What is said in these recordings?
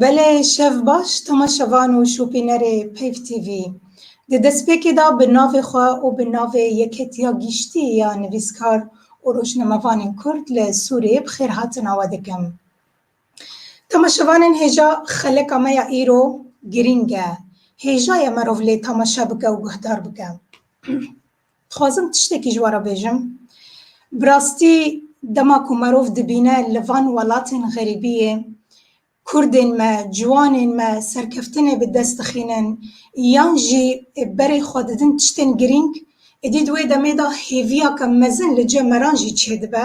Belê şev baş temaşevan û şopînerê Peyv TV. Di destpêkê de bi navê xwe û bi navê Yeketiya Giştî ya Nivîskar û Rojnamevanên Kurd li Sûriyê bi xêrhatina we dikim. Temaşevanên hêja xeleka me ya îro girîng e. Hêja ye merov lê temaşe bike û guhdar bike. Dixwazim tiştekî ji we re bêjim. Bi rastî dema ku merov dibîne li van welatên xerîbiyê kurdên me, ciwanên me serkeftinê bi dest dixînin yan jî berê xwe didin tiştên girîng, êdî di wê demê de hêviyeke mezin li cih me re jî çêdibe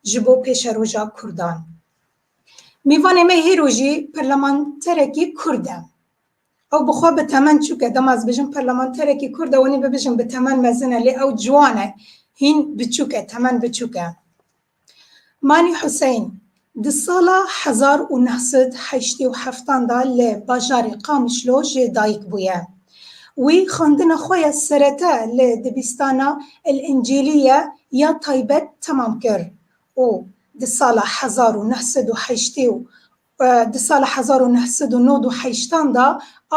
ji bo pêşeroja kurdan. Mêvanê me hêro jî perlemanterekî kurd e. Ew bi xwe bi temen çûk e, dema ez bijim parlamenterekî Kurd e wenî bibijim bi temen mezin e lê ew ciwan e, hîn biçûk e, temen biçûk e. Mani Huseyn, Di sala hezar û neh sed heştê û heftan de li bajarê Qamişlo jê dayik bûye. Wî xwendina xwe ya serete li dibîstana El-Encîlîye ya taybet temam kir û di sala hezar û neh sed û heştê û Di sala hezar û neh sed û nod û heştan de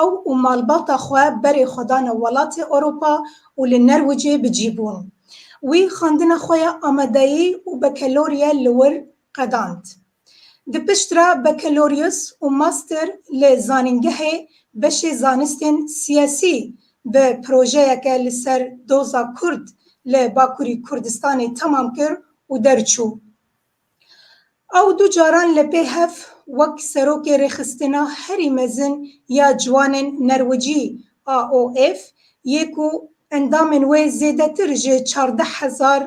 ew û malbata xwe berê xwe dane welatê Ewropa û li Nerwicê bi cî bûn. Wî xwendina xwe ya amadeyî û bekelorye li wir qedand. Di pişt re bekelorîus û master li zanîngehê beşê zanistên siyasî bi projeyeke li ser doza kurd li Bakurî Kurdistanê temam kir û derçû. Ew du caran li pê hev wek Serokê Rêxistina Herî Mezin ya Ciwanên Nerwicî, AOF, yê ku endamên wê zêdetir ji çardeh hezar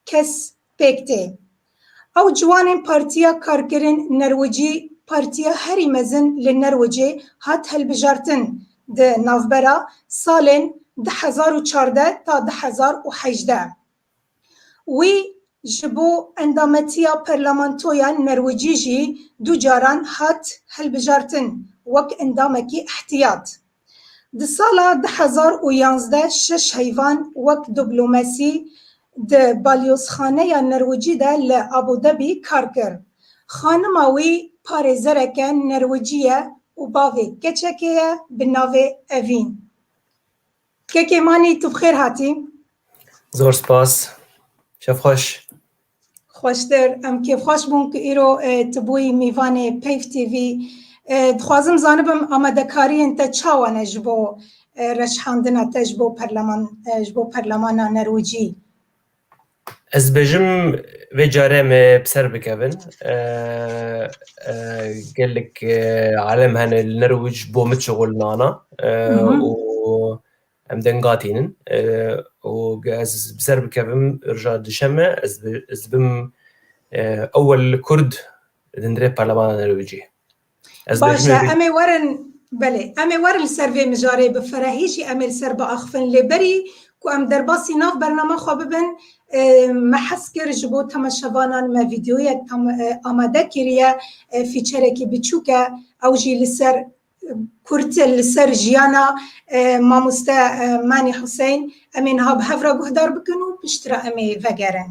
kes pêk tê. Ew ciwanên Partiya Karkerên Nerwicî, partiya herî mezin li Nerwicê, hat hilbijartin di navbera salên du hezar û çardeh ta du hezar û hejdeh. Wî ji bo endametiya parlamentoya Nerwicî jî du caran hat hilbijartin wek endamekî îhtiyat. Di sala du hezar û yanzdeh şeş heyvan wek diblomasî di Balyozxaneya Nerwicî de li Abu Dhabî kar kir. Xanima wî parêzereke Nerwicî ye û bavê keçekê ye bi navê Evîn. Kekê Manî tu bi xêr hatî. Zor spas. Şev xweş. Xweştir. Em kêfxweş bûn ku îro tu bûyî mîvanê Peyv TV. Dixwazim zanibim amadekariyên te çawa ne ji bo reşhandina te ji bo ji bo perlemana Nerwicî? Ez dibêjim vê carê em ê bi ser bikevin. Gelek alem hene li Nirwij bo min çixulnana û em deng gatînin. Û ez bi ser bikevim rija duşeme ez dibim ewel kurd li dindirê parlemana Nirwijê. Baş e em ê werin belê em ê werin li ser vê mijarê bi ferehî jî em ê li ser biaxivin lê berî ku em derbasî nav bernama xwe bibin me hez kir ji bo temaşevanan me vîdeoyek amade kiriye fîçerekî biçûk e ew jî li ser kurt li ser jiyana mamoste Manî Huseyn em ê niha bi hev re guhdar bikin û piştre em ê vegerin.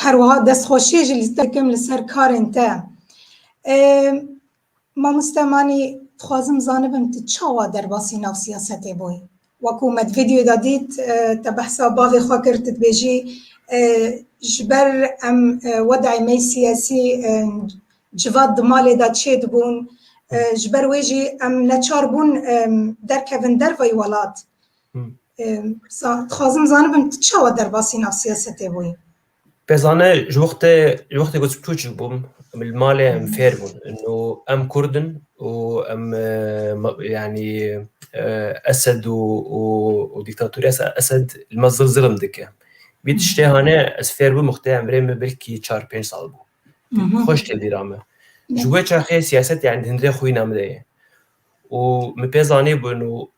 Her wiha destxweşiyê jî li te kim li ser karên te. Mamoste Manî dixwazim zanibim tu çawa derbasî nav siyasetê bûyî? Wekû me di vîdyoyê de dît te behsa bavê xwe kir tu dibêjî ji ber em wedayê me yê siyasî civat di malê de çêdibûn ji ber wê jî em neçar bûn derkevin derveyî welat. Dixwazim zanibim tu çawa derbasî nav siyasetê bûyî? Pezane ji wextê ji wextê ku tûçik bûm li malê em fêr bûn û em kurd in û em yanî esed û dîktatorîya esed li me zil zilm dike. Vî tiştê hane ez fêr bûm wextê em rê me belkî çar pênc sal bû. Xweş tê bîra me. Ji wê çaxê siyaset yanî di hundirê xwîna min de ye. Û min pê zanîbûn û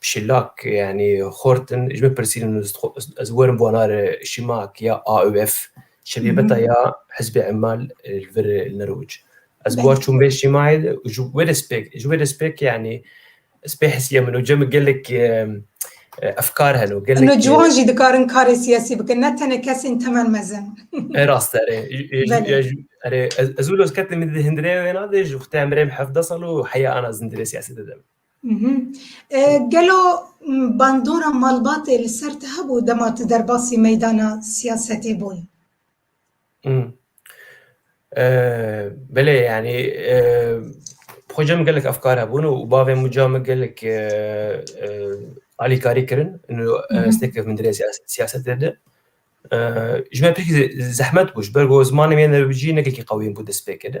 Şilak yanî xortin ji min pirsîn û ez werim bona re Şimak ya AUF şebîbeta ya Hizbê Emal li vir li Nirûc. Ez got çûm vê Şimayê de û ji wê re spêk ji wê re spêk yanî spê hisiya min û cem û gelek efkar hene û gelek. Hûn ciwan jî dikarin karê siyasî bikin ne tenê kesên temel mezin. Ev rast e erê. Erê ez wilo ez ketim di hindirêya wêna de ji wextê em birêm hevdeh sal û heya ana zindirê siyasetê de. Gelo bandora malbatê li ser te hebû dema tu derbasî meydana siyasetê bûn? Belê yanî xweca min gelek efkar hebûn û bavê min ca min gelek alîkarî kirin stêrkevin min dirê siyasetê de. Ji me pirkî zehmet bû ji ber ku zimanê min yê norwîcî ne gelekî qewî bû destpêkê de.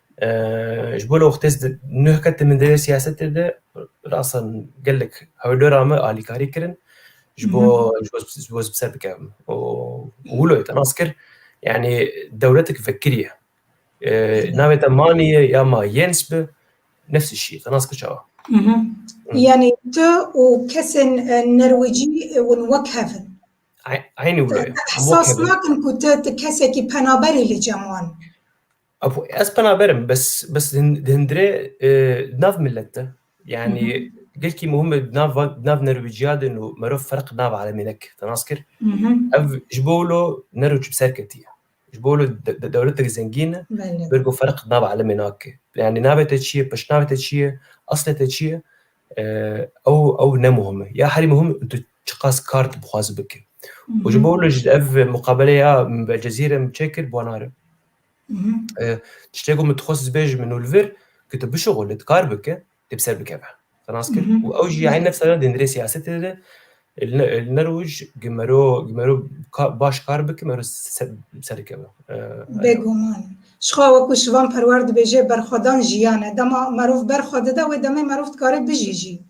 Ji bo li wextê nuh ketim min derê siyasetê de rasan gelek hewlera me alîkarî kirin ji bo ji bo ser bikevim û wilo te nas kir yanî dewletek vekirî ye navê te manî ye ya ma yens bi nefsî şî te nas kir çawa yanî tu û kesên nerwicî hûn wek hev in eynî wilo ye ehsas nakin ku tu ti kesekî penaberî li cem wan Apo ez penaberim bes bes dindire nav millet de. Yani gelkî muhim nav nav nerwiciya de nu mero ferq nav alemê nek tenas kir. Ev ji bo lo nero çi ser ketiye. Ji bo lo dewletek zengîn bir ku ferq nav alemê nake. Yani navê te çiye, peşnavê te çiye, eslê te çiye ew ew ne muhim e. Ya herî muhim tu çiqas kar dixwazî bike. Ji bo lo ev muqabeleya Belcezîre çêkir bona re. Tiştê ku min dixwest zibê ji min û li vir ku tu bişixo li dikar bike dê bi ser bikeve. Nas kir û ew jî eyn nefs re dêndirê siyasetê de li ne roj gi mero gi mero baş kar bike mero bi ser dikeve. Bêguman. Jixwe wekû Şivan Perwer dibêje berxwedan jiyan e. Dema merov berxwe dide wê demê merov dikare bijî jî.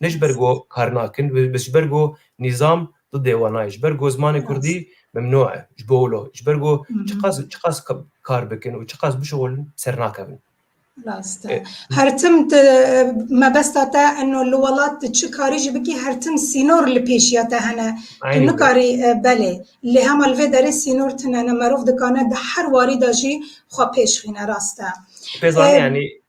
ne ji ber ku kar nakin bi ji ber ku nîzam di dêwa nayê ji ber ku zimanê kurdî memnû e ji bo wilo ji ber ku çiqas çiqas kar bikin û çiqas bişixulin sernakevin Rast e. Her tim mebesta te eno li welat tu çi karî jî bikî her tim sînor li pêşiya te hene. Tu nikarî belê lê hema li vê derê sînor tune ne merov dikane di her warî de jî xwe pêşxîne rast e. Pêzanî yanî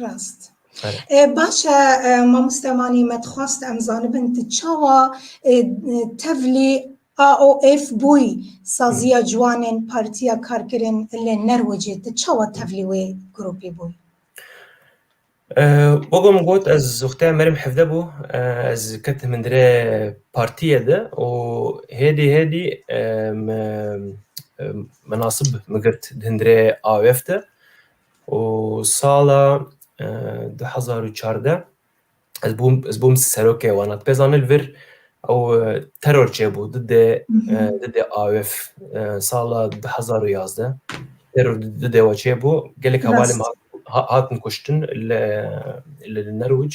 Rast. Baş e mamoste Manî me dixwast em zanibin tu çawa tevlî AOF bûyî saziya ciwanên Partiya Karkerên li Nerwicê tu çawa tevlî wê grûpî bûyî? Wek min got ez wextê me rêm hevde bû ez ketim hindire partiyê de û hêdî hêdî min nasib girt di hindire AOF de û sala du hezar û çardeh ez bûm ez bûm serokê wan hatipê zanîn li vir ew teror çêbû didê didê AOF sala du hezar û yazdeh teror didê we çêbû gelek hevalên min hatin kuştin li li Nerwic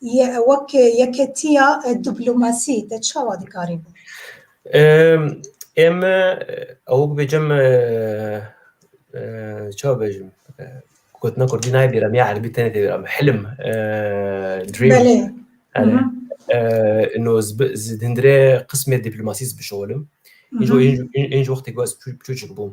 Wek yeketiya diplomasî te çawa dikarî bo? Em ew bibêjim çawa bêjim gotina kurdî nayê bîra ya erbî tenê tê bîra min hilim dream no hindire qismê diplomasî bişolim. Înc wextê ku ez çûçik bûm.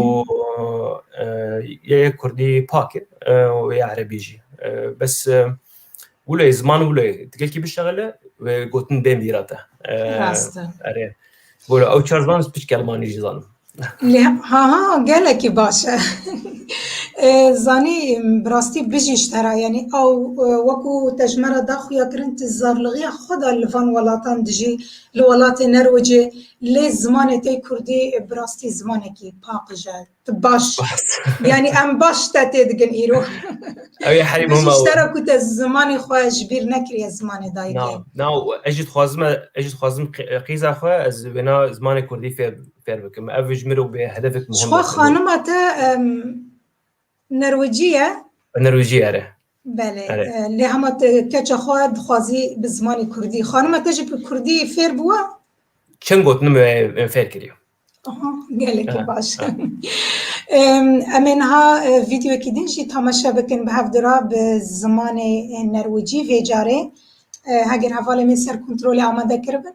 û yê kurdî pak e û yê erebî jî bes wilo yê ziman wilo yê ti gelkî bişexile wê gotin bên bîra te erê wilo ew çar ziman ez piçkî elmanî jî zanim ha ha gelekî baş e zanî bi rastî bijî ji te re yanî ew wekû te ji me re daxuya kirin tu zarlixiya xwe da li van welatan dijî li welatê nerwicê Lê zimanê te kurdî bi rastî zimanekî paqij e. Tu baş yanî em baş te tê digin îro. Ew ê herî muhim e. Ji tera ku te zimanê xwe ji bîr nekiriye zimanê dayikê. Na ez jî dixwazim ez jî dixwazim qîza xwe ez wêna zimanê kurdî fêr fêr bikim. Ev ji min re bê hedefek muhim e. Ji xwe xanima te Nerwicî ye? Nerwicî ere. Belê, lê hema keça xwe dixwazî bi zimanî kurdî. Xanima te jî bi kurdî fêr bûwe? Çend gotinim em fêr kiriye. Gelekî baş. Em ê niha vîdyoyekî din jî tamaşe bikin bi hevdira bi zimanê nerwicî vê carê. Heger hevalê min ser kontrolê amade kiribin.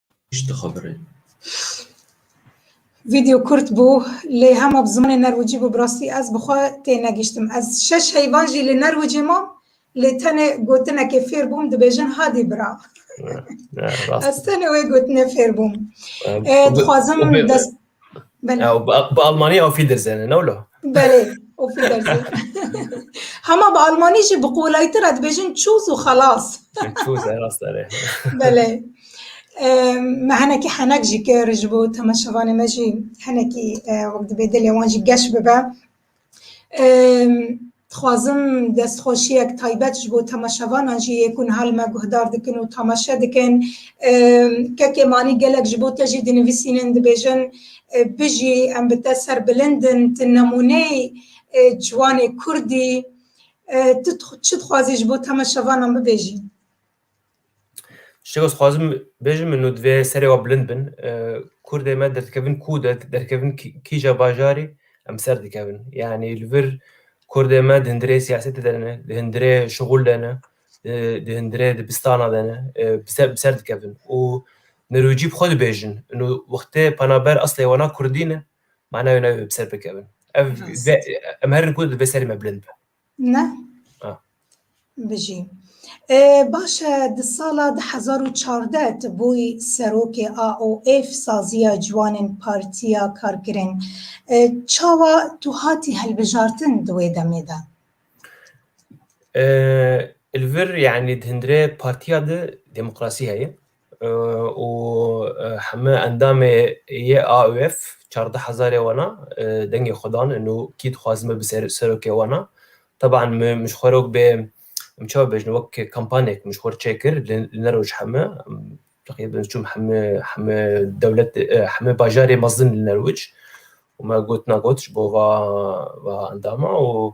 Tişt dixebire. Video kurt bû lê hema bi zimanê nerwicî bû bi rastî ez bi xwe tênegîştim. Ez şeş heyvan jî li nerwicî mam lê tenê gotinekê fêr bûm dibêjin hadî bira. Ez tenê wê gotinê fêr bûm. Dixwazim dest Belê. Ya, bi bi Almanî auf Wiedersehen ne wilo. Belê. O fidersin. Hema bi Almanî jî bi qolaytir e dibêjin çûz û xelas. Çûz e rast erê. Belê. Ehm, Me henekî henek jî kir ji bo temaşevanê me jî henekî eh, wek dibê dilê wan jî geş bibe. Dixwazim destxweşiyek taybet ji bo temaşevanan jî yê ku niha li me guhdar dikin û temaşe dikin. Kekê Manî gelek ji bo te jî dinivîsînin, dibêjin Bijî, em bi te ser bilind in, tu nemûneyî ciwanê Kurd î. Tu çi dixwazî ji bo temaşevanan bibêjî? Şego xwazim bêjim min û divê serê wa bilind bin. Kurdê me derdikevin kû de derdikevin kîja bajarê em ser dikevin. Yanî li vir Kurdê me di hundirê siyasetê de ne, di hundirê şixul de ne, di hundirê dibistana de ne bi ser dikevin û nirûcî bi xwe dibêjin û wextê penaber eslê wana kurdî ne, mana wê ne bi ser bikevin. Ev em herin ku divê serê me bilind be. Ne? Ah. Bijî. E, baş e di sala 2014 tu bûyî serokê AOF saziya ciwanên Partiya Karkerên. E, çawa tu hatî hilbijartin di wê demê de? E, li vir yani di hindire partiya de demokrasî heye. û heme endamê yê AUF çardeh hezarê wana dengê xwe dan in û kî dixwaz me bi serokê wana. Teban min ji xwe re wek bê em çawa bêjin wek kampanek min ji xwe re çêkir li ne roj heme teqrîben çûm heme heme dewlet heme bajarê mezin li ne roj û me got na got ji bo va va endama û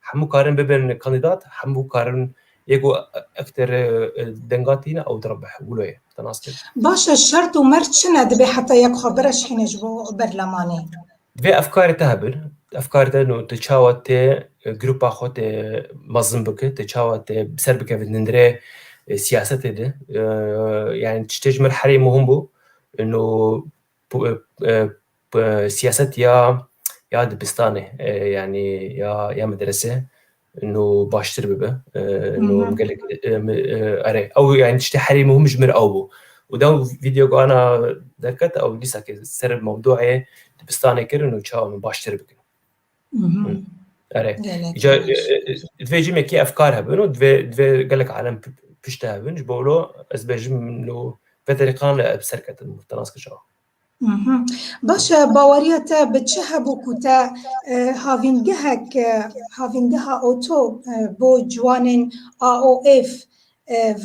Hemû karin bibin kandîdat, hemû karin yê ku ekter denga tîne ew diribe wilo ye. Te nas kir? Baş e, şert û mert çi ne dibê heta yek xwe bireşkîne ji bo berlemanê? Vê efkarê te hebin, efkarê te no te çawa tê grupa xwe tê mezin bike, te çawa tê ser bikeve nindirê siyasetê de. Yani tiştê ji min herî muhim bû no Siyaset ya ya dibistanê yanî ya ya medrese no baştir bibe no gelek erê ew yanî tiştê herî muhim ji min re ew bû û dew vîdeo ku ana derket ew dîsa ke ser mewdûeyê dibistanê kirin û çawa min baştir bikin. Erê. Ja divê jî mekî efkar hebin û divê divê gelek alem pişte hebin ji bo wilo ez bêjim lo vê derîqan li bi ser ketin te nas kişa. Baş e baweriya te bi çi hebû ku te havîngehek havîngeha oto bo ciwanên AOF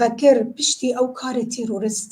vekir piştî ew karê terorist?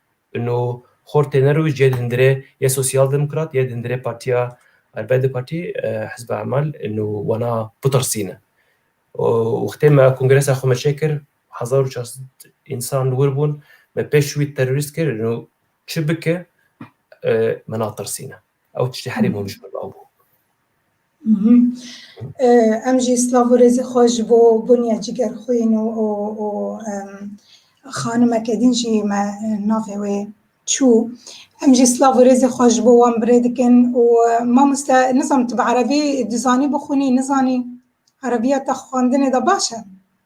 No xort têne rû jê di hundirê yê Sosyal Demokrat yê di hundirê Partiya Arbedi Partî, Hizba Emal no wana bitirsîne. Wextê me kongresa xwe me çêkir hezar û çar sed însan wir bûn, me pêş wî terorîst kir no çi bike me natirsîne. Ew tiştê herî hûn ji min re bû. Em jî slav û rêzê xwe ji bo Bunya Cîgerxwîn û û xanimeke din jî me navê wê çû. Em jî slav û rêzê xwe ji bo wan birê dikin û mamoste nizanim tu bi erebî dizanî bixwînî, nizanî? Erebiya te xwendinê de baş e?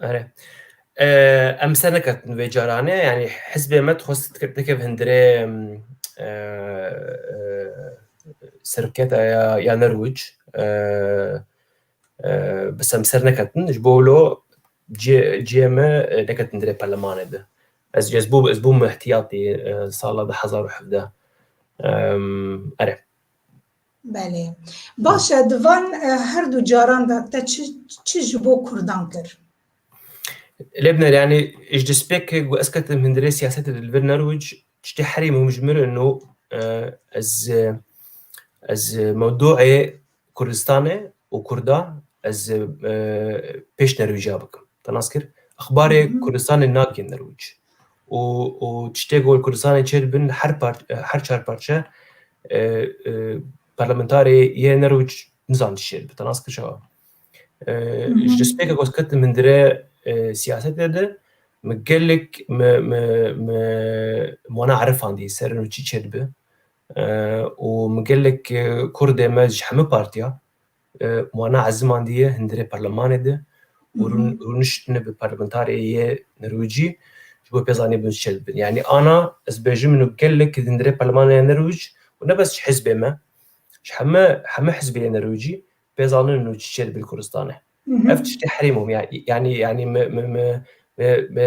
Ere. Em ser neketin vê caranê yanî hizbê me dixwest dikeve hindirê seroketa ya ya Nerwic bi sem ser neketin ji bo lo ciyê me neketin dirê perlemanê de. Ez ez bû ez bûm ihtiyatî sala du hezar û hevdeh. Ere. Belê. Baş e, di van her du caran de te çi, çi ji bo Kurdan kir? Lebner yani ji despêkê ku ez ketim hindirê siyasetê li vir nerwic tiştê herî muhim ji min no ez ez mewduê Kurdistanê û Kurda ez pêş nerwîja bikim. Te nas kir? Exbarê Kurdistanê nakin nerwic. û û tiştê ku li Kurdistanê çê dibin her par her çar parçe parlamentarê yê nerûc nizan tiştê dibin nas kişawa. Ji destpêka ku ez ketim hindire siyasetê de me gelek me me me wana erifandî ser û çî çê dibe û me gelek kurdê me ji hemû partiya Wana ez zimandiye hundirê parlemanê de û rûniştine bi parlementarê yê Nirwicî ji bo pê zanî bin çi dibin. Yanî ana ez bêjim min û gelek di hundirê parlemanê yê Nirwic û ne bes ji hizbê me ji heme heme hizbê yê Nirwicî pê zanin û çi çê dibin Kurdistanê. Ev tiştê herî muhim yanî yanî me me me me me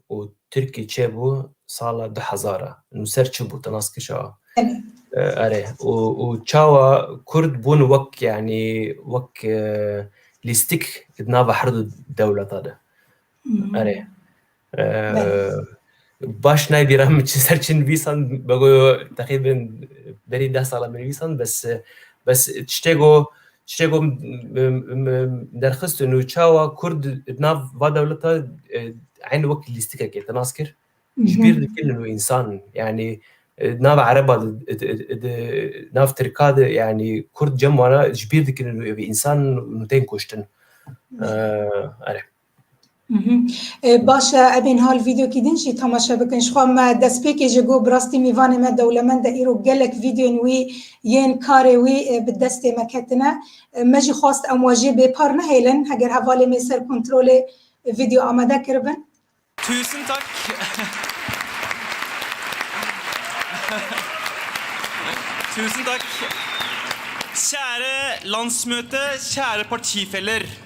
û Tirkî çêbû sala du hezar a? Nûser çi bû? Tu nas kir şawa? Erê, û û çawa Kurd bûn wek yanî wek lîstik di nava her du dewleta de? Erê. Baş nayê bîra min çi ser çi nivîsan, begoyo teqîben berî deh sala binivîsan bes bes tiştêgo Tiştê ku min derxist û çawa Kurd di nav va dewleta eyn wek lîstikekê te nas kir ji bîr dikilin wê însan yanî di nav ereba de di nav tirka de yanî Kurd cem wana ji bîr dikilin wê însan û tên kuştin. Baş e, ev ên hal vîdyokî din jî temaşe bikin. Jixwe me destpêkê ji gor bi rastî mîvanê me dewlemend e. Îro gelek vîdyoyên wî yên karê wî bi destê me ketine. Me jî xwest em we jê bêpar nehêlin. Heger hevalê me ser kontrolê vîdyo amade kiribin. Tusen tak. Tusen tak. Käre landsmöte, käre partifeler.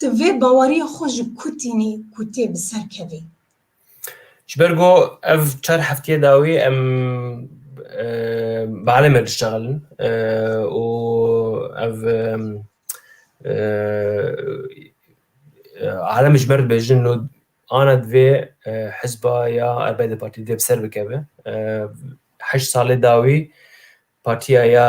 Tu vê baweriyê xwe ji ku tînî ku tê bi ser kevî? Ji ber ku ev çar heftiyê dawî em bi Eleme diştegelin û ev Elem ji ber dibêjin lo ana divê hizba ya erbey di partî divê bi ser bikeve. Heşt salê dawî partiya ya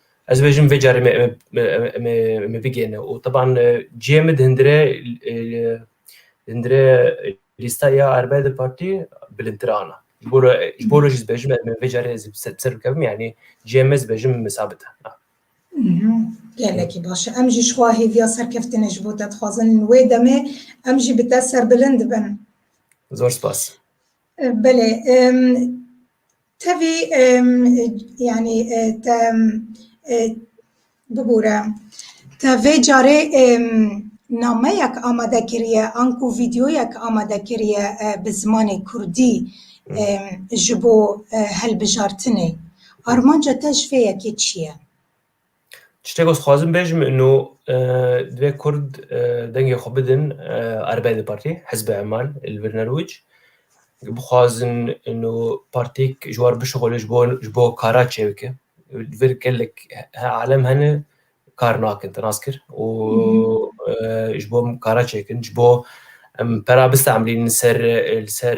Ez dibêjim vê carê me me bigêne û teban cihê min di hindire hindire lîsta ya erbay di partî bilindtir ana. Ji bo re ji bo re jî dibêjim me vê carê ez ser bikevim yanî cihê me dibêjim misabit e. Gelekî baş e. Em jî ji xwe hêviya serkeftinê ji bo te dixwazin. Wê demê em jî bi te serbilind bin. Zor spas. Belê tevî yanî te bibûre te vê carê nameyek amade kiriye an ku vîdyoyek amade kiriye bi zimanê kurdî ji bo hilbijartinê. Armanca te ji vê yekê çi ye? Çiştêk ez xwazim bêjim ino divê Kurd dengê xwe bidin erbeyê di partî hizbe emal li vir nerwic. Bixwazin ino partîk ji war bişuxulin ji bo ji bo kara çê bike. Li vir gelek alem hene kar nakin te nas kir û ji bo kara çêkin ji bo em pera bistemelînin li ser li ser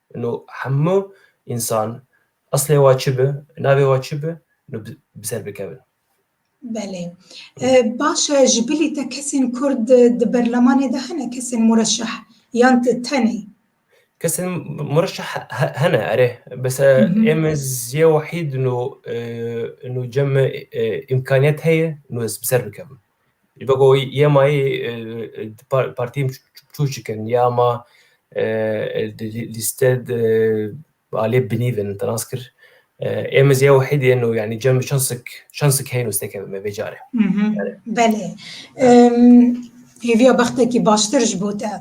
Ino hemû însan eslê wa çi bi, navê wa çi bi, ino bi ser bikevin. Belê. Baş e ji bilî te kesên kurd di berlemanê de hene kesên mureşeh yan tu tenê? Kesên mureşeh hene erê. Bes e ême ziyê wahîd ino ino cem îmkaniyet heye ino ez bi ser bikevim. Ji bo ku yê ma yê partiyên biçûkçik in ya ma di lîste de aliyê binîvin in tinas kir. Êm ez ya wahîdê in û yanî cem şansik şansik heye nûste keve me vê carê. Belê. Hêviya bextekî baştir ji bo te.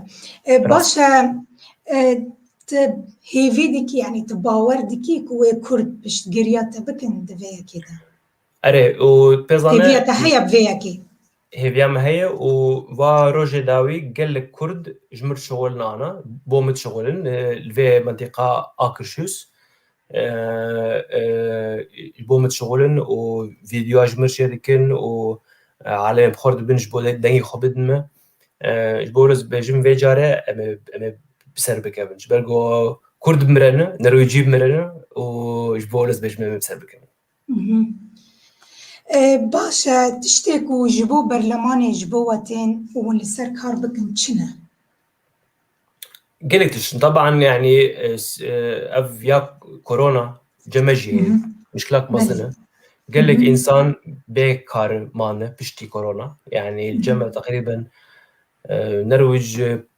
Baş e tu hêvî dikî yanî tu bawer dikî ku wê kurd piştgiriya te bikin di vê yekê de? Erê û pêzane... Hêviya te heye bi vê yekê? Hêviya me heye û va rojê dawî gelek Kurd ji min şixulin ana, bo min şixulin li vê mentiqa Akirşûs ji bo min şixulin û vîdyoa ji min şêdikin û alemên bi xwe re dibin ji bo dengê xwe bidin min. Ji bo rêz bêjim vê care em ê em ê bi ser bikevin. Ji ber ku Kurd bimire ne, Norwêcî bimire ne û ji bo rêz bêjim em ê bi ser bikevin. Baş e, tiştê ku ji bo berlemanê ji bo we tên û hûn li ser kar bikin çi ne? Gelek tişt in. Taban yanî ev ya korona ceme jî heye. Muşkilat mezin e. Gelek însan bê kar mane piştî korona. Yanî cem e teqrîben nerwîc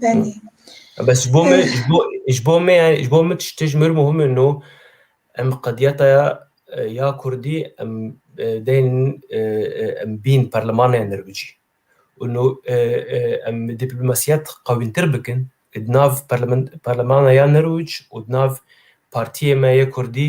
Belê. Bes ji bo me ji bo ji bo me yani ji bo min tişt ji mir muhim in û em qediyeta ya ya Kurdî em deyên em bîn perlemanê nirbicî. û nû em dîplomasiya qewîntir bikin di nav perlemana ya nirwc û di nav partiyê me yê Kurdî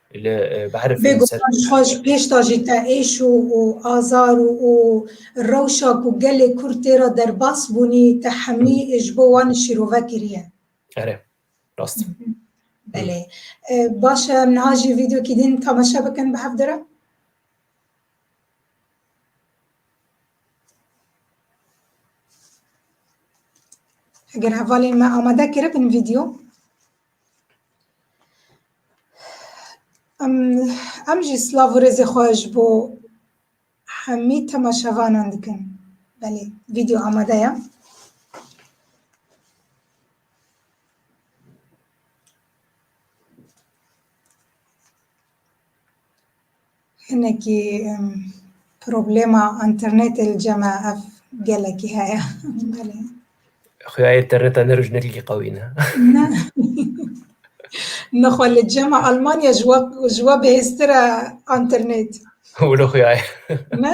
Li behrê Bê guman ji xwe ji pêş de jî te êş û azar û rewşa ku gelê Kurd tê re derbas bûnî te hemî ji bo wan şîrove kiriye. Erê, rast e. Belê. Baş e em niha jî vîdyokî din temaşe bikin bi hev de re? Eger hevalên me amade kiribin vîdyo. Em jî silav û rêzê xwe ji bo hemî temaşevanan dikin. Belê vîdeo amade ye. Hinekî problema internetê li cem e ev gelekî heye. Xuya interneta ne roj ne ligî qewî ne. Ne. Nexwe li cem e Almanya ji we ji we bihêztir e internet. Wilo xuya ye. Ne.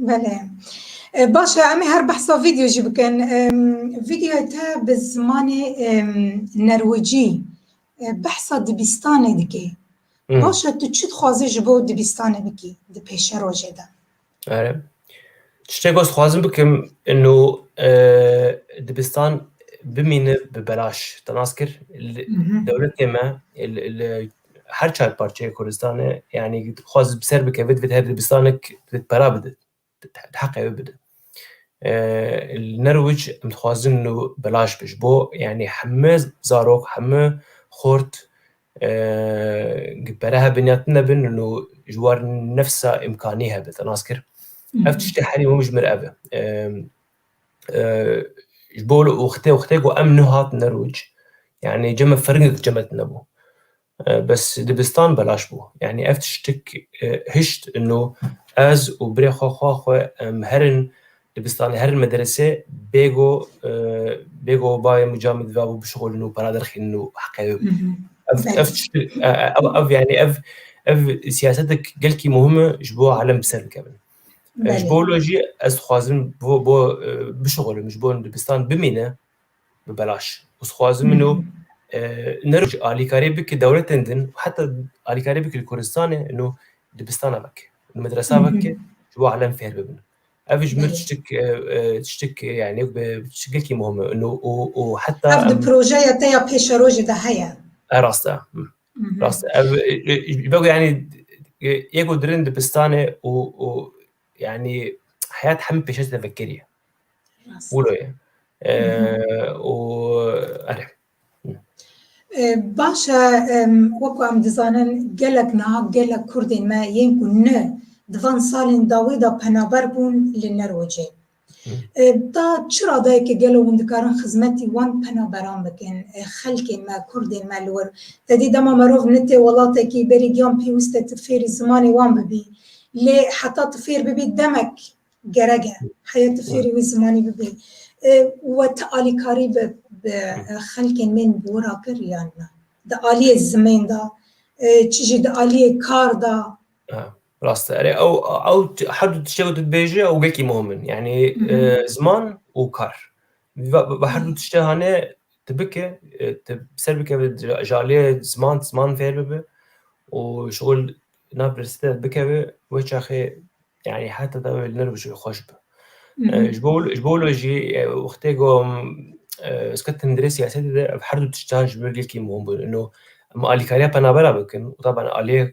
Belê. Baş e em ê her behsa vîdeo jî bikin. Vîdeoya te bi zimanê nerwicî behsa dibistanê dike. Baş e tu çi dixwazî ji bo dibistanê bikî di pêşe rojê de? Ere. Tiştek ez dixwazim bikim ino dibistan bimîne bi belaş. Te nas kir dewletê me li her çar parçeyê Kurdistanê yanî xwaz bi ser bikeve divêt her dibistanek divêt pera bide heqê wê bide li nerwic em dixwazin û belaş bi ji bo yanî heme zarok heme xort pere hebin ya tune bin û ji war nefsa imkanî hebin nas kir ev tiştê herî hûn ji mir ev e ji bo wextê ku em nehatine roj yanî cem firingek cem tine bû. Bes dibistan belaş bû. Yanî ev tiştik hişt no ez û birê xwe xwa xwe em herin dibistanê herin mederesê bêgo bêgo bayê min camê dibabû bişixulin û para derxînin û heqê wê bidin. Ev tiştik ev yanî ev ev siyasetek gelkî muhim e ji bo alem bi ser bikevin. Ji bo wilo jî ez dixwazim bo bo bişixulim ji bo dibistan bimîne bi belaş û dixwazim min û nero jî alîkarê bike dewletên din heta alîkarê bike li Kurdistanê nû dibistana veke nû medresa veke ji bo elem fêr bibin. Ev ji mir tiştek tiştek yani bi tiştekî muhim e nû û û heta Ev di projeya te ya pêşerojê de heye. Rast e. Rast ev bego yani yek û dirin dibistane û û yani heyat hemî pêşet tevekirî wilo ye û erê Baş e wekû em dizanin gelek niha gelek kurdên me yên ku ne di van salên dawî de penaber bûn li Nerwecê. Ta çi radayekê gelo hûn dikarin xizmetî wan penaberan bikin, xelkên me, kurdên me li wir? Tedî dema merov nitê welatekî berî giyan pêwist e tu fêrî zimanê wan bibî. Lê heta tu fêr bibî demek gerek e. Heye tu fêrî wî zimanî bibî. We ti alîkarî bi bi xelkên me yên bi wir a kir yan na? Di aliyê zimên de, çi jî di aliyê kar de. Rast e. Erê ew ew her du tiştê ku tu dibêjî ew wekî muhim in. Yanî ziman û kar. Bi her du tiştê hanê tu bike, tu ser bikeve ji aliyê ziman, ziman fêr bibe û şixul nav universitete de bikeve wê çaxê yanî heta te wê li nir bije xweş be. Ji bo ji bo wilo jî wextê ku sket tundrê siyasetê de ev her du tiştan ji ber yekî muhim bûn. Ino em alîkariya penabera bikin û taban aliyê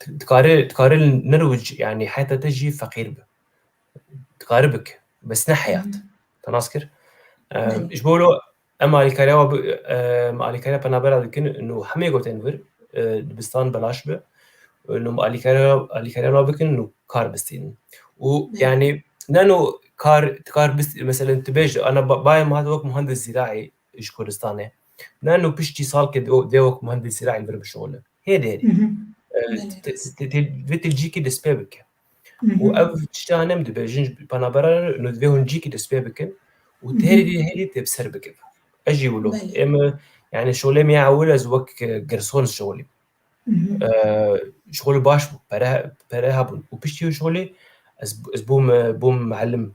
Dikarê dikarê nirûc yani heta te jî feqîr bi. Dikarê bik bes ne heyat. Te nas kir. Ji bo lo em alîkariya wa em alîkariya penabera dikin nû hemê gotin vir dibistan belaş bi. Nû alîkariya alîkariya wa bikin nû kar bistînin. û yani ne nû kar kar mesela tu bêj ana bayê min hat wek muhandis zîraî ji Kurdistanê. Ne nu piştî sal ke dewek muhendisî re em vir bişole. Hêdê hêdê. Vê tilcîkî destpê bike. û ev tişta nem dibe jin penabera nu divê hûn cîkî destpê bikin û têrî hêdî tê ser bikin. Ez jî wilo êm yani şolê me ewil ez wek girson şolî. Şolî baş bû pere pere hebûn û piştî şolê ez bûm bûm melim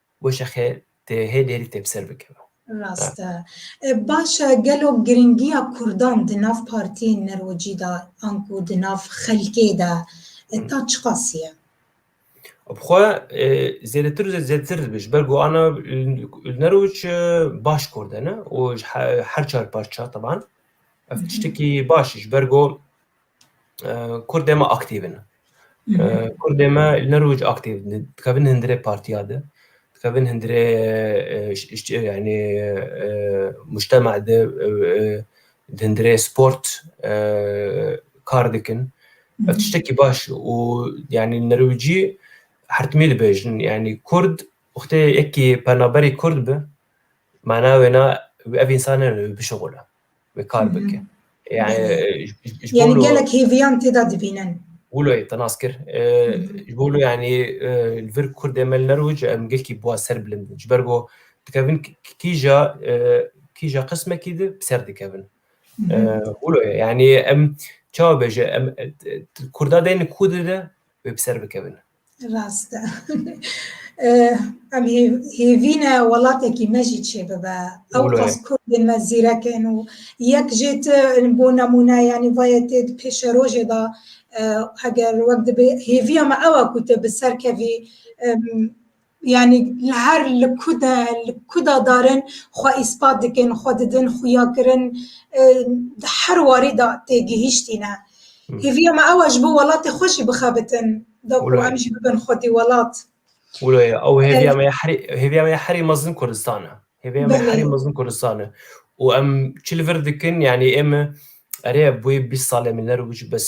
Goşexê tê hê lêrî tê bi ser bikeve. Rast e. Baş e, gelo girîngiya kurdan di nav partiyên nirocî de an ku di nav xelkê de ta çiqas ye? Bi xwe zêdetir û zêdetir dibe. Ji ber ku ana li Neroc baş kurd e ne û ji her çar parça teban. Ev tiştekî baş e ji ber ku Kurdê me aktîv in. Kurdê me li ne roj aktîv in. Dikevin hindirê partiya de, dikevin hindirê yanî mujtema de, di hindirê sport kar dikin. Ev tiştekî baş e û yanî li rojî hertimî dibêjin yanî kurd wextê yekî penaberê kurd be mana wêne ev însan ne bişuxile. wê kar bike. Yani yani gelek hêviyan tê de dibînin. Wilo te nas kir. Ji bo yani li vir Kurdê me li Nerwc em gelkî bûa ser bilind in. Ji ber ku dikevin kîja kîja qismekî di ser dikevin. Wilo yani em çawa bêje em Kurda deyne Kurdê de wê bi ser bikevin. Rast e. Em hêvîne welatekî me jî çêbibe. Ew qas kurdên me zîrek in û yek jê ti bo nemûne yanî vayê tê di pêşerojê de heger wek dibê hêviya me ew e ku tu bi ser kevî Yanî li her li ku de li ku de darin xwe îspat dikin, xwe didin, xuyakirin di her warî de têgihîştîne. Hêviya me ew e ji bo welatê xwe jî bixebitin da ku em jî bibin xwedî welat. Wilo ye ew hêviya me ya herî hêviya me ya herî mezin Kurdistan e. Hêviya me herî mezin Kurdistan e û em çi li vir dikin yanî ême erê bûyî bîst salê min ler û bes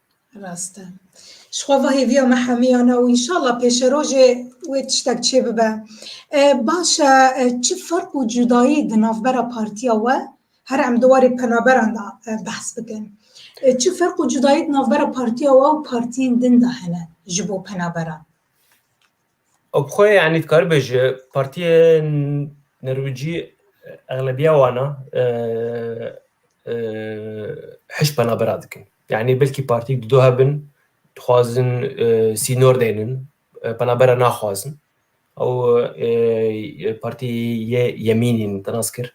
Rast e. Ji xwe ve hêviya me hemîyan e û înşallah pêşerojê wê tiştek çê bibe. E, baş e, e, çi ferq û cudayî di navbera partiya we, her em di warê penaberan de e, behs bikin. E, çi ferq û cudayî di navbera partiya we û partiyên din de hene ji bo penaberan? Ew bi xwe yanî dikaribe ji partiyên Nerwîcî exlebiya wana hişt penabera dikin. Yanî belkî partî di do hebin dixwazin sînor deynin penabera naxwazin. Ew partî yê yemînîn nas kir.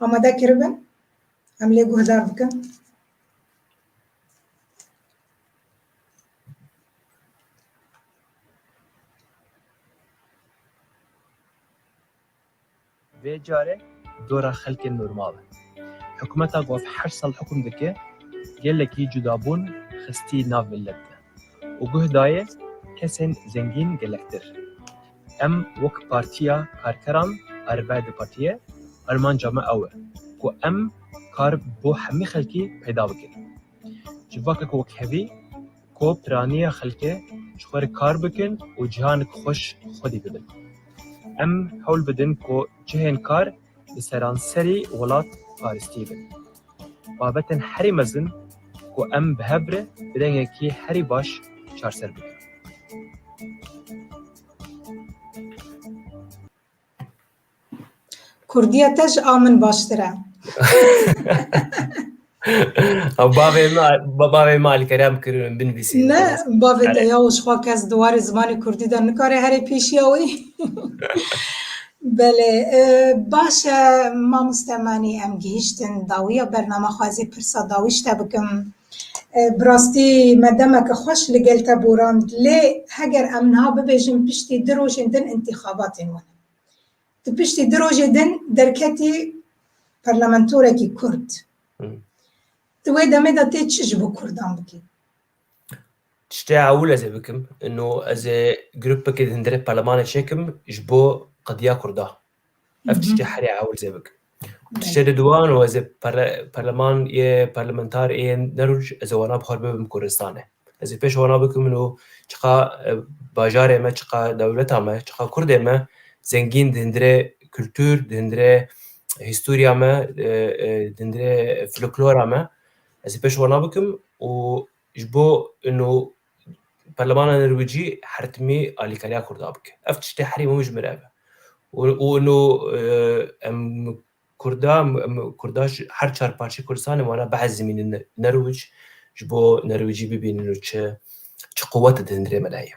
Amade kiribin. Em lê guhdar bikin. Vê carê dora xelkê normal e. Hikûmeta ku ev heşt sal hikûm dike gelekî cudabûn xistî nav milet de û guh dayê kesên zengîn gelektir. Em wek Partiya Karkeran a Rêberê DEP'ê armanca me ew e ku em kar bo hemî xelkî peyda bikin. Civakek wekhevî ku piraniya xelkê ji xwe re kar bikin û cîhanek xweş xwedî bidin. Em hewl bidin ku cihên kar, di seranserî welat paristî bin. Babetên herî mezin ku em bi hev re bi dengekî herî baş çarser bikin. Kurdîya te ji a min baştir e. Bavê me bavê me alkerem kirin binivîsî. Ne bavê te ya xwa kes di warê zimanê kurdî de nikare herê pêşiya wî. Belê baş e mamoste manî em gihîştin dawiya bername xwezî pirsa dawî ji te bikim. Bi rastî me demeke xweş li gel te borand lê heger em niha bibêjin piştî du rojên din întîxabatên wan in. Di piştî du rojê din derketî parlamentorekî Kurd. Di wê demê de tê çi ji bo Kurdan bikî? Tiştê ewil ez ê bikim, no ez ê grupekê di hindirê parlemanê çêkim ji bo qediya Kurda. Ev tiştê herê ewil zê bikim. Tiştê di duan û ez ê perleman yê perlementar ê nerûj ez ê wana bi xwe bibim Kurdistanê. Ez ê pêş wana bikim min û çiqa bajarê me, çiqa dewleta me, çiqa Kurdê me zengîn di hundirê kultur, di hundirê hîstoriya me, di hundirê folklora me ez ê pêş wana bikim û Ji bo ino Parlemana Nirwicî hertimî alîkariya Kurda bike. Ev tiştê herî hûn ji min re be. Û ino em Kurda Kurda ji her çar parçeyê Kurdistanê wana behs zimînin Nirwic ji bo Nirwicî bibînin û çi çi quwet didin rê me de heye.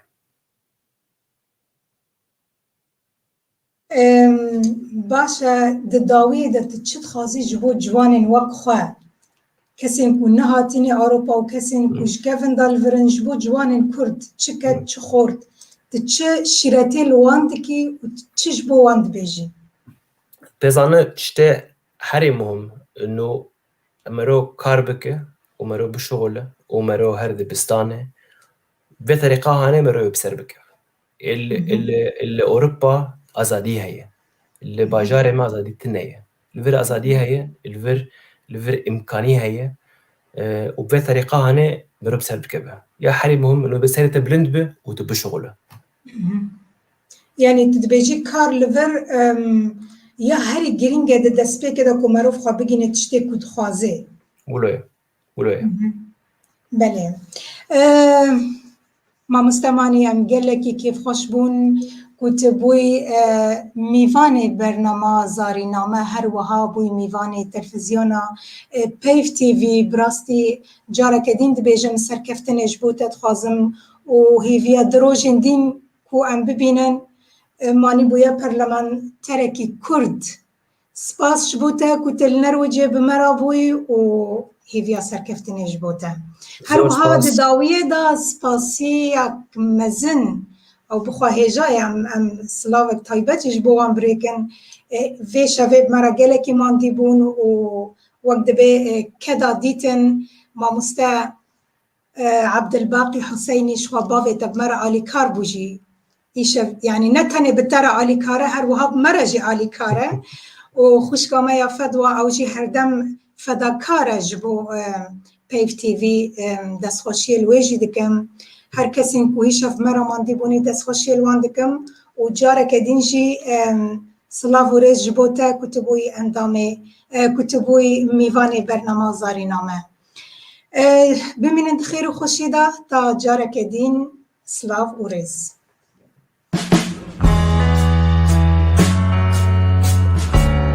Baş e, di dawiyê de tu çi dixwazî ji bo ciwanên wek xwe, kesên ku nehatîne Ewropa û kesên ku ji kevinda li vir in, ji bo ciwanên Kurd çi ked çi xort, tu çi şîretê li wan dikî û çi ji bo wan dibêjî? Pêzane tiştê herî muhim no mero kar bike û mero bişuxule û mero her dibistanê vê terîqahanê mero wê bi ser bike. Li Ewropa azadî heye. Li bajarê me azadî tune ye. Li vir azadî heye, li vir li vir îmkanî heye û bi vê terîqa hane mirov bi ser bikeve. Ya herî muhim min webe serê te bilind be û tu bişuxule. Yanî tu dibêjî kar li vir ya herî girîng e di destpêkê de ku merov xwe bigîne tiştê ku dixwaze. Wilo ye. Wilo ye. Belê. Mamoste Manî em gelekî kêfxweş bûn ku tu bûyî mîvanê bernama Zarîname her wiha bûyî mîvanê telfizyona Peyv TV bi rastî careke dîn dibêjim serkeftinê ji bo te dixwazim û hêviya di rojên dîn ku em bibînin Manî bûye perlemanterekî Kurd Spas ji bo te ku te li Nerwicê bi me re bûyî û hêviya serkeftinê ji bo te. Her wiha di dawiyê de spasiyek mezin ew bixwe hêja ye em em silavek taybet jî ji bo wan birêkin. Vê şevê bi me re gelekî mandî bûn û wek dibê keda dîtin mamoste Abdulbaqi Huseyni ji xwe bavê te bi me re alîkar bû jî îşev yanî ne tenê bi te re alîkar e her wiha bi me re jî alîkar e û xwişka me ya Fedwa ew jî herdem fedakar e ji bo Peyv TV destxweşiyê li wê jî dikim. Her kesên ku îşev me re mandî bûnî destxweşiyê li wan dikim û careke dîn jî silav û rêz ji bo te ku tu bûyî endamê ku tu bûyî mîvanê bernama Zarîna me. Bimînin di xêr û xweşî de ta careke dîn silav û rêz.